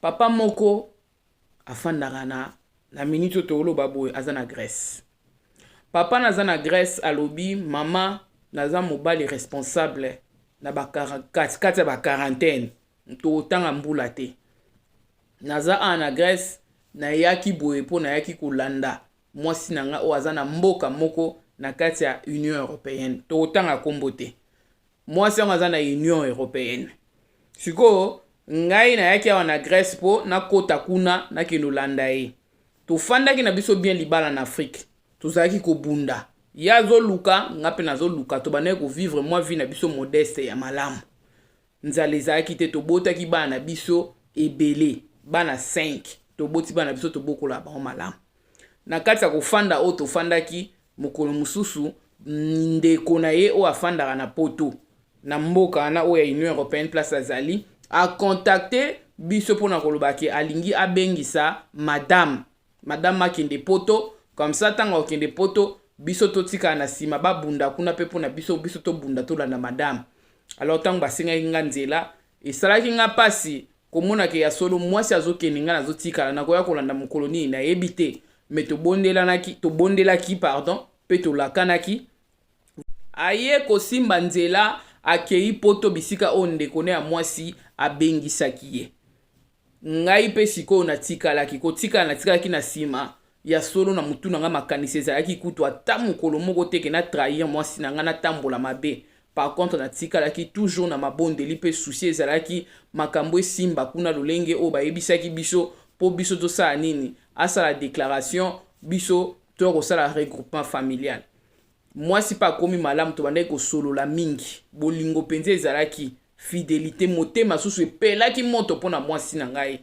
Papa moko afandaka na na minute oyo toloba boye aza na Grèce. Papa naza na Grèce alobi mama naza mobali responsable na ba kati kati ya ba quarantaine totanga mbula te. Naza awa na Grèce nayaki boye mpo nayaki kolanda mwasi na ngai oyo aza na mboka moko na kati ya Union européenne tokotanga nkombo te. Mwasi yango aza na Union Europeenne. Sikoyo ngai nayaki awa na Grèce mpo nakota kuna nakende olanda ye. Tofandaki na biso bien libala na Afrique. Tozalaki kobunda. Ye azoluka, nga mpe nazoluka. Tobandaki kovivre mwa vie na biso modeste ya malamu. Nzala ezalaki te, tobotaki bana na biso ebele. Bana 5. Toboti bana na biso tobokola bango malamu. Na kati ya kofanda oyo tofandaki, Mokolo mosusu, ndeko na ye oyo afandaka na poto, na mboka wana oyo ya Union Européenne place azali, akontakte biso mpo na koloba ke alingi abengisa madame madame akende poto comme ça ntango akokende poto biso totikala na nsima babunda kuna mpe mpo na biso biso tobunda tolanda madame alors ntango basengaki nga nzela Esalaki nga pasi komona ke ya solo mwasi azokende nga nazotikala nakoya kolanda mokolo nini nayebi te me tobondelanaki tobondelaki pardon pe tolakanaki aye kosimba nzela akei poto bisika oyo ndeko ne ya mwasi abengisaki ye Ngai mpe sikoyo natikalaki. Kotikala natikalaki na nsima. Ya solo, na motu na ngai makanisi ezalaki kutu ata mokolo moko te que na trahir mwasi na ngai, natambola mabe. Par contre, natikalaki toujours na mabondeli mpe souci ezalaki makambo esimba kuna lolenge oyo bayebisaki biso mpo biso tosala nini? Asala declaration, biso toya kosala regroupement familial. Mwasi pe akomi malamu, tobandaki kosolola mingi. Bolingo penza ezalaki, fidelite. Motema susu epelaki moto po na mwasi na ngai.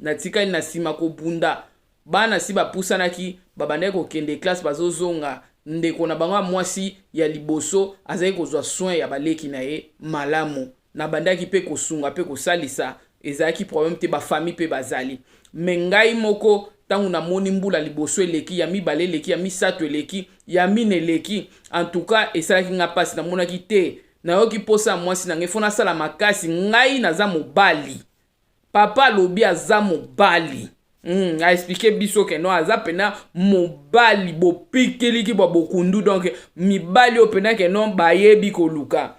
Natikali na sima kobunda. Bana si bapusanaki, babandaki kokende classe, bazozonga. Ndeko na bango ya mwasi ya liboso azalaki kozwa soins ya baleki na ye malamu. Nabandaki pe kosunga pe kosalisa, ezalaki probleme te, ba famille pe bazali. Mais ngai moko tangu namoni mbula liboso eleki, ya mibale eleki, ya misatu eleki, ya mina eleki, en tout cas esalaki ngai pasi, namonaki te, nayoki posa ya mwasi na ngai, il faut nasala makasi, ngai naza mobali, papa alobi aza mobali. Mm, a explique biso ke no aza pena mobali bopikiliki bwa bokundu donc mibali oyo pena ke no bayebi koluka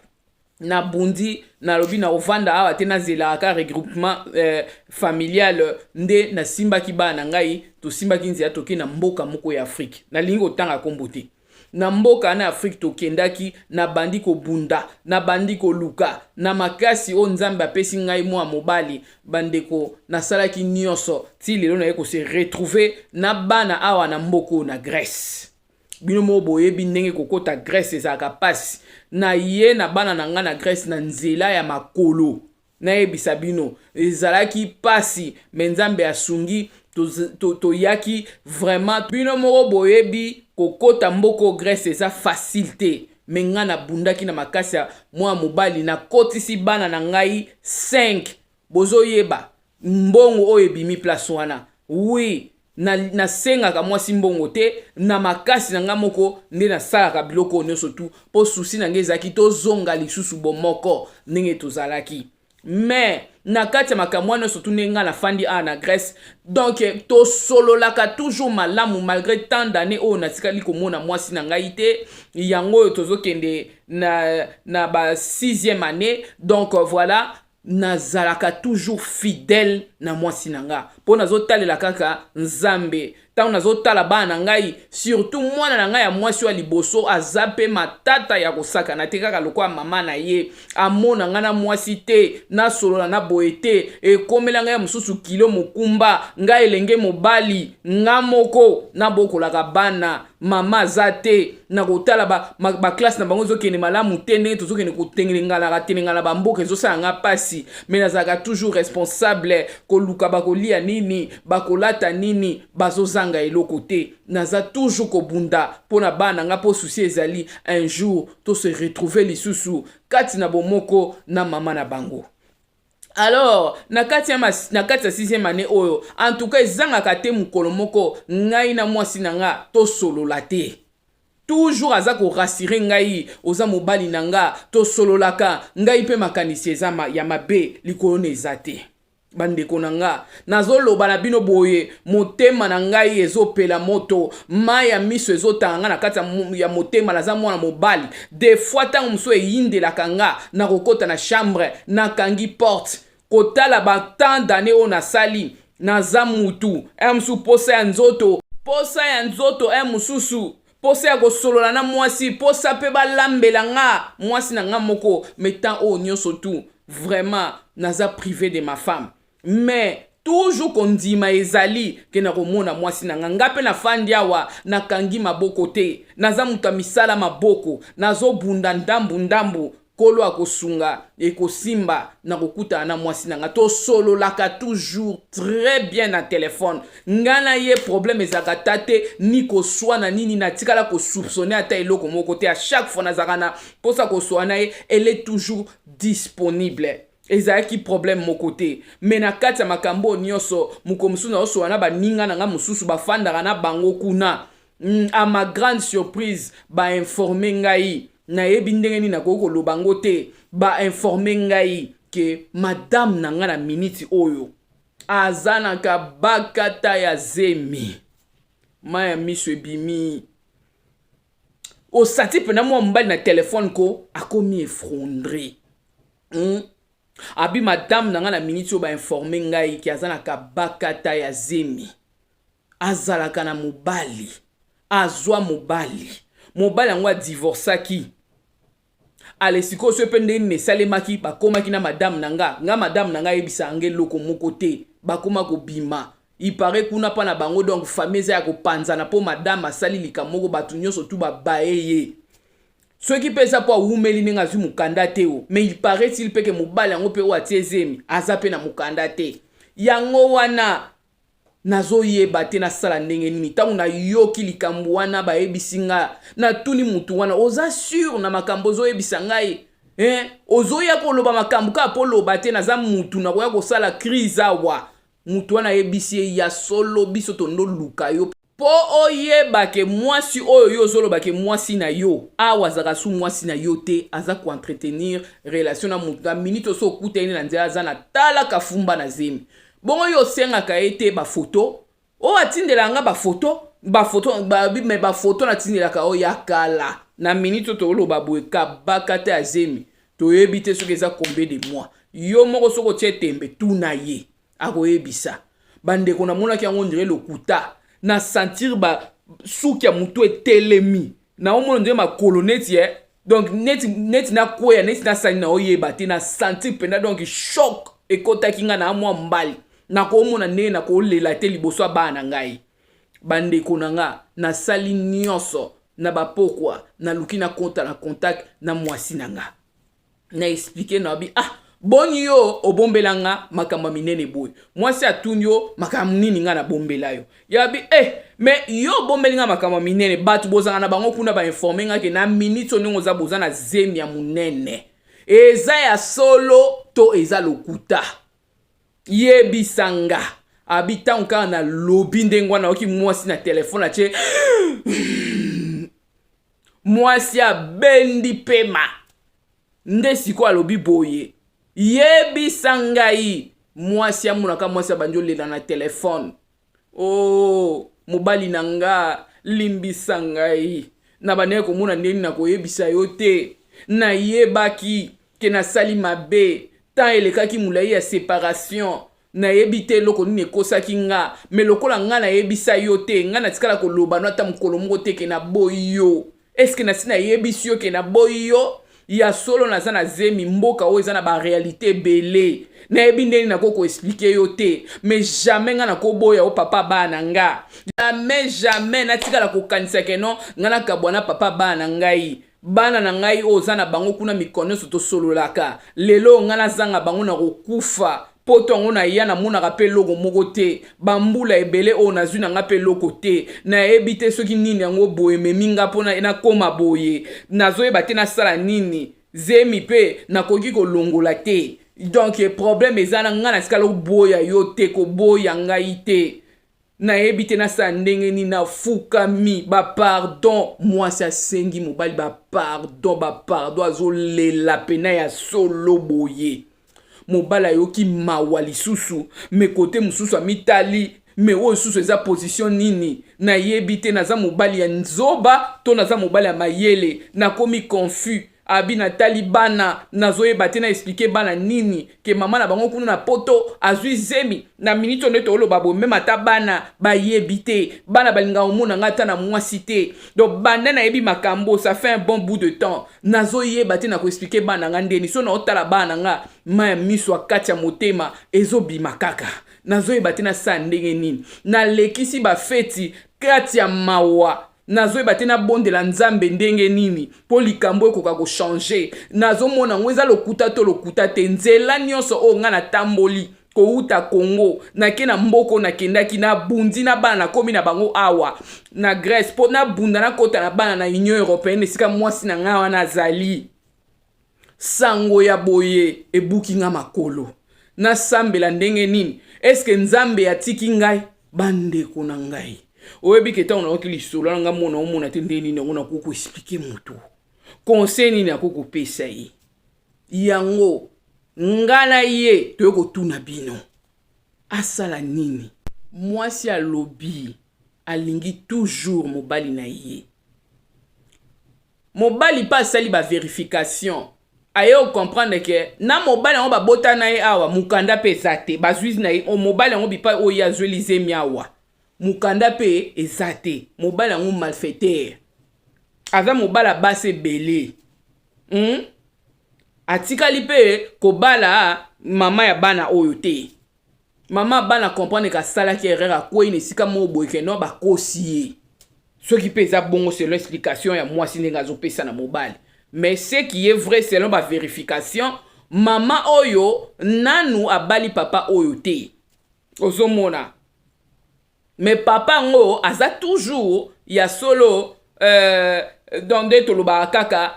na bundi nalobi na ovanda awa te nazelaka ka regroupement euh, familial euh, nde nasimbaki bana na ngai tosimbaki nzela toke na mboka moko ya afrike nalingi kotanga nkombo te na mboka na afrike tokendaki nabandi kobunda nabandi koluka na makasi oyo nzambe apesi ngai mwa mobali bandeko nasalaki nyonso ti lelo naye kose retrouve na bana awa na mboka oyo na grèce bino moko boyebi ndenge kokota grèce ezalaka mpasi naye na bana na ngai na grèce na nzela ya makolo nayebisa bino ezalaki mpasi me nzambe asungi toyaki to, to vraiment bino moko boyebi kokota mboko grèce eza facile te me ngai nabundaki na makasi ya mwana mobali nakotisi bana na ngai 5 Bozo yeba mbongo oyo ebimi place wana oui na nasengaka mwasi mbongo te na makasi na nga moko nde nasalaka biloko oyo nyonso tu mpo susi na nga ezalaki tozonga lisusu bomoko ndenge tozalaki mais na kati ya makambo wana nyonso tu ndenge ngai nafandi awa na grèce donc tosololaka toujours malamu malgré tant d'année oyo natikali komona mwasi na ngai te yango oyo tozokende na, na ba sixième année donc voilà nazalaka toujours fidèle na mwasi na nga mpo nazotalela kaka nzambe ntango nazotala bana na ngai surtout mwana na ngai ya mwasi oyo ya liboso aza mpe matata ya kosakana te kaka lokola mama na ye amona ngai na mwasi te nasolola na boye te ekomela ngai ya mosusu kilo mokumba ngai elenge mobali nga moko nabokolaka bana mama aza te na kotala baklasse na bango ezokende malamu te ndenge tozokende kotengelenganaka telengana bamboka ezosala nga mpasi me nazalaka toujours responsable koluka bakolia nini bakolata nini bazozanga eloko te naza toujours kobunda mpo na bana nga mpo susi ezali un jour to se retrouver lisusu kati na bomoko na mama na bango alors na kati ya na kati ya sixième année oyo en tout cas ezangaka te mokolo moko ngai na mwasi na nga tosolola te toujours aza korasire ngai oza mobali na nga tosololaka ngai mpe makanisi eza ma, ya mabe likolo na eza te bandeko na nga Nazoloba na bino boye, motema na ngai ezopela moto, mayi ya miso ezotanga nga na kati ya motema, naza mwana mobali, de fois tango mosusu eyindelaka nga na kokota na chambre, nakangi porte, kotala ba tant d'annees oyo nasali, naza mutu, heure mosusu posa ya nzoto, posa ya nzoto, heure mosusu posa ya kosolola na mwasi, posa pe balambela nga mwasi na nga moko, mais temps oyo nionso tout, vraiment naza prive de ma femme. mais toujours kondima ezali ke nakomona mwasi na nga nga mpe nafandi awa nakangi maboko te naza moto ya misala maboko nazobunda ndambu ndambu kolo akosunga ekosimba na kokutana na mwasi na nga tosololaka toujours très bien na telefone nga na ye problème ezalaka ta te ni koswana nini natikala kosoupçonne ata eloko moko te a chaque fois nazalaka na mposa koswana ye elle est toujours disponible Ezalaki problème moko te. Mais na kati ya makambo oyo nionso, mokolo mosusu nazosolola na baninga na ngai mosusu, bafandaka na bango kuna. Hum, à ma grande surprise, ba informer ngai, nayebi ndenge nini nakoki koloba yango te, ba informer ngai que madame na ngai na minute oyo aza na kabakata ya zemi. Mai ya miso ebimi. Osati pena mwa mobali na telefone ko akomi effondre. Hmm? Abi madame na ngai na miniti oyo bainforme ngai ke aza na kabakata ya zemi azalaka na mobali azwa mobali mobali yango adivorcaki ale sikoyo soki mpe nde nini esalemaki bakomaki na madame na nga nga madame na nga ayebisa yango eloko moko te bakoma kobima ipare kuna mpa na bango donc famille eza ya kopanzana mpo madame asali likambo moko bato nyonso tu babaye ye Soki pe eza po awumeli ndenge azwi mukanda te o mais il parait il pe ke mobali yango pe oyo atie zemi aza pe na mukanda te yango wana nazoyeba te nasala ndenge nini ntango nayoki likambo wana bayebisi nga natuni mutu wana oza sur na makambo ozoyebisa ngai eh, ozoya koloba makambo kaka mpo loba te naza mutu nakoya kosala crise awa mutu wana ayebisi ye ya solo biso tondoluka yo Po oyeba ke mwasi oyo yo ozoloba ke mwasi na yo awa azaka su mwasi na yo te aza ko entretenir relation na mutu na minute oso okuta ene na nzela aza na tala kafumba na zemi bongo yo osengaka ye te ba photo o oh, atindela nga ba photo ba photo ba me ba photo na tindelaka o oh, ya kala na minute to oloba boye kabaka te azemi toyebi te soki eza combien de mois yo moko soki otie tembe tuna ye akoyebisa bandeko namonaki yango ondire lokuta na sentir basuki ya motu etelemi naomona ondire makolo neti eh? donc neti, neti nakweya neti nasali naoyeba te na sentir mpenza donc choc ekotaki ngai na mwa mbali nakoomona ndenge nakolela te liboso ya bana na ngai bandeko na nga nasali nyonso na bapokwa naluki nakota na contact na mwasi na nga na explike na bi ah boni yo obombela nga makambo ya minene boye mwasi atuni yo makambo nini nga nabombela yo yabi eh me yo obombeli nga makambo ya minene bato bozala na bango kuna bainforme nga ke na miniti oningo oza boza na zemi ya monene eza ya solo to eza lokuta yebisa nga abi ntango kaka nalobi ndenge wana oyoki mwasi na telefone atie mwasi abendi pema nde sikoyo alobi boye yebisa ngai mwasi amonaka mwasi abandi olela na telefone o oh, mobali na nga limbisa ngai nabandaki komona ndenge nakoyebisa yo te nayebaki ke nasali mabe temps elekaki molai ya separation Nayebi te eloko nini ekosaki nga, mais lokola nga nayebisa yo te, nga natikala koloba no ata mokolo moko te ke naboyi yo. Est ce que nasi nayebisi yo ke naboyi yo? Ya solo naza na zemi, mboka oyo eza na ba realites ebele. Nayebi ndenge nini nakoki ko expliquer yo te, mais jamais nga nakoboya yo papa ya bana na nga. Jamais, jamais natikala kokanisa ke non, nga nakabwa na papa ya bana na ngai. Bana na ngai oyo oza na bango kuna mikolo nyonso tosololaka, lelo oyo ngai nazanga bango nakokufa. Poto yango naya namonaka mpe eloko moko te, bambula ebele oyo nazwi na ngai mpe eloko te. Nayebi te soki nini yango boye ememi ngai mpo nakoma boye, nazoyeba te nasala nini. Zemi mpe nakoki kolongola te. Donc problème eza na ngai natikala koboya yo te, koboya ngai te. Nayebi te nasala ndenge nini nafukami ba pardon mwasi asengi mobali ba pardon ba pardon azolela pena ya solo boye mobali ayoki mawa lisusu me kote mosusu amitali me oyo susu eza pozisio nini nayebi te naza mobali ya nzoba to naza mobali ya mayele nakomi confus Abi na tali bana nazo yeba te na expliquer bana nini ke maman na bango kuna na poto azui zemi na minute oyo nde toloba boye meme ata bana bayebi te bana balinga omona nga ata na mwasi te donc banda nayebi makambo ça fait un bon bout de temps nazo yeba te na ko expliquer bana nga ndeni so na otala bana nga ma ya miso akati ya motema ezo bima kaka nazo yeba te na sa ndenge nini nalekisi ba feti kati ya mawa Nazoyeba te nabondela Nzambe ndenge nini po likambo oyo ekoka ko changer. Nazomona yango eza lokuta to lokuta te. Nzela nionso oyo nga natamboli kowuta Congo nake na mboka oyo nakendaki nabundi na bana nakomi na bango awa na Grèce po nabunda nakota na bana na Union Europeenne esika mwasi na nga wana azali. Sango ya boye ebuki nga makolo nasambela ndenge nini eske nzambe atiki ngai bandeko na ngai oyebi ke ntango nayoki lisolo na ngai mona omona te ndenge nini yango nakoki koexplike motu conseil nini akoki kopesa ye yango nga na ye toye kotuna bino asala nini mwasi alobi alingi toujours mobali na ye mobali mpe asali ba verification aye ocomprendre ke na mobali yango babota na ye awa mokanda mpe eza te bazwi na ye mobali yango bipai oyo ye azweli zemi awa mokanda mpe eza te mobali yango malfaitere aza mobala basi ebele hmm? atikali mpe kobala mama ya bana oyo te Maman bana comprendre ka salaki erreur akweyi na esika moko boye ke non bakosi ye. Soki pe eza bongo selon explication ya mwasi ndenge azo pesa na mobali. Mais ce qui est vrai selon ba verification maman oyo nanu abali papa oyo te. Ozo mona? Mais papa yango aza toujours ya solo euh donc nde tolobaka kaka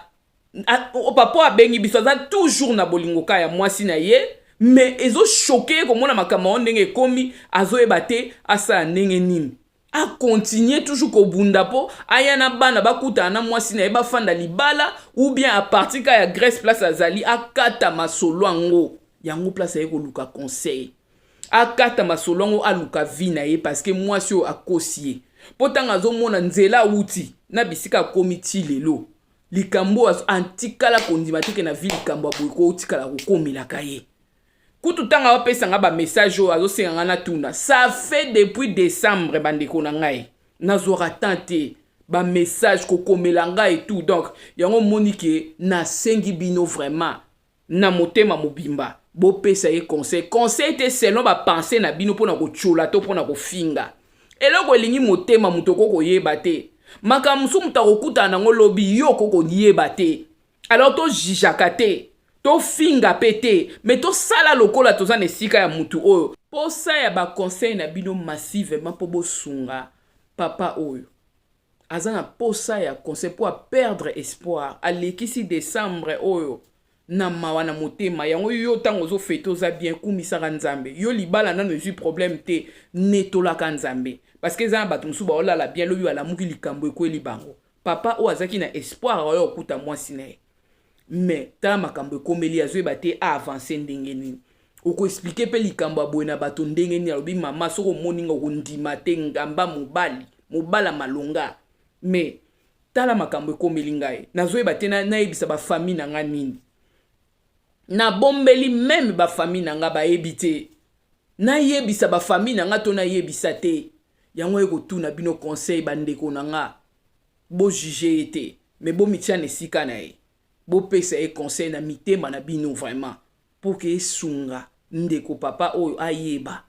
papa oyo abengi biso aza toujours na bolingo ka ya mwasi na ye me ezochoke ye komona makambo yango ndenge ekomi azoyeba te asala ndenge nini akontinue toujours kobunda mpo aya na bana bakutana na mwasi na ye bafanda libala ou bien apartir ka ya grèce place azali akata masolo yango yango place aye koluka conseil akata masolo yango aluka vie na ye parceke mwasi oyo akosi ye mpo ntango azomona nzela awuti na bisika akomi ti lelo likambo oyo atikala kondima teke na vie likambo ya boye ko otikala kokomelaka ye kutu ntango apesa ngai bamessage oyo azosenga ngai natuna ça fait depuis décembre bandeko na ngai nazwaka temps te bamessage kokomela ngai etout donc yango omoni ke nasengi bino vraiment na motema mobimba bopesa ye conseil conseil te selon bapense na bino mpona kotyola to mpona kofinga eloko elingi motema moto okoki koyeba te makambo mosusu moto akokutana nango lobi yo okoki koyeba te alors tozijaka te tofinga mpe te me tosala lokola toza na esika ya motu oyo mposa ya baconseil na bino massivement mpo bosunga papa oyo aza na posa ya conseil mpo a perdre espoir alekisi decembre oyo na mawa na motema yango yo ntango ozofete oza bien kumisaka nzambe yo libala nano ezwi problème te netolaka nzambe parce que eza na bato mosusu baolala bien lobi balamuki likambo ekweli bango papa oyo azalaki na espoir oyo okuta mwasi na ye mais tala makambo ekomeli ye azoyeba te aavance ndenge nini okoexplike mpe likambo ya boye na bato ndenge nini alobi mama soki omoni nga okondima te ngamba mobali mobala malonga mais tala makambo ekomeli ngai nazoyeba te nayebisa bafamille na ngai nini nabombeli meme bafamille na ngai bayebi te nayebisa bafamille na ngai to nayebisa te yango ye kotuna bino conseil bandeko na ngai Bo juger ye te mais bo mitia na esika na ye. Bo pesa ye conseil na mitema na bino vraiment pour que esunga ndeko papa oyo ayeba.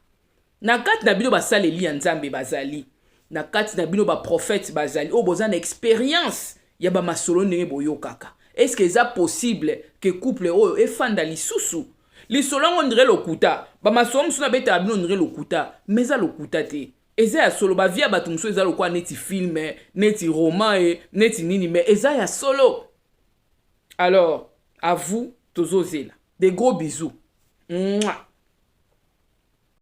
Na kati na bino basaleli ya Nzambe bazali. Na kati na bino ba prophètes bazali oyo boza na experience ya ba masolo ndenge boyokaka. Est ce que eza possible que couple oyo efanda lisusu? Lisolo yango on dirait lokuta. Ba masolo mosusu nabetaka bino on dirait lokuta mais eza lokuta te. Eza ya solo ba vie ya batu mususu eza lokola neti film neti roman e neti nini mais eza ya solo alors à vous tozozela des gros bisous Mwah.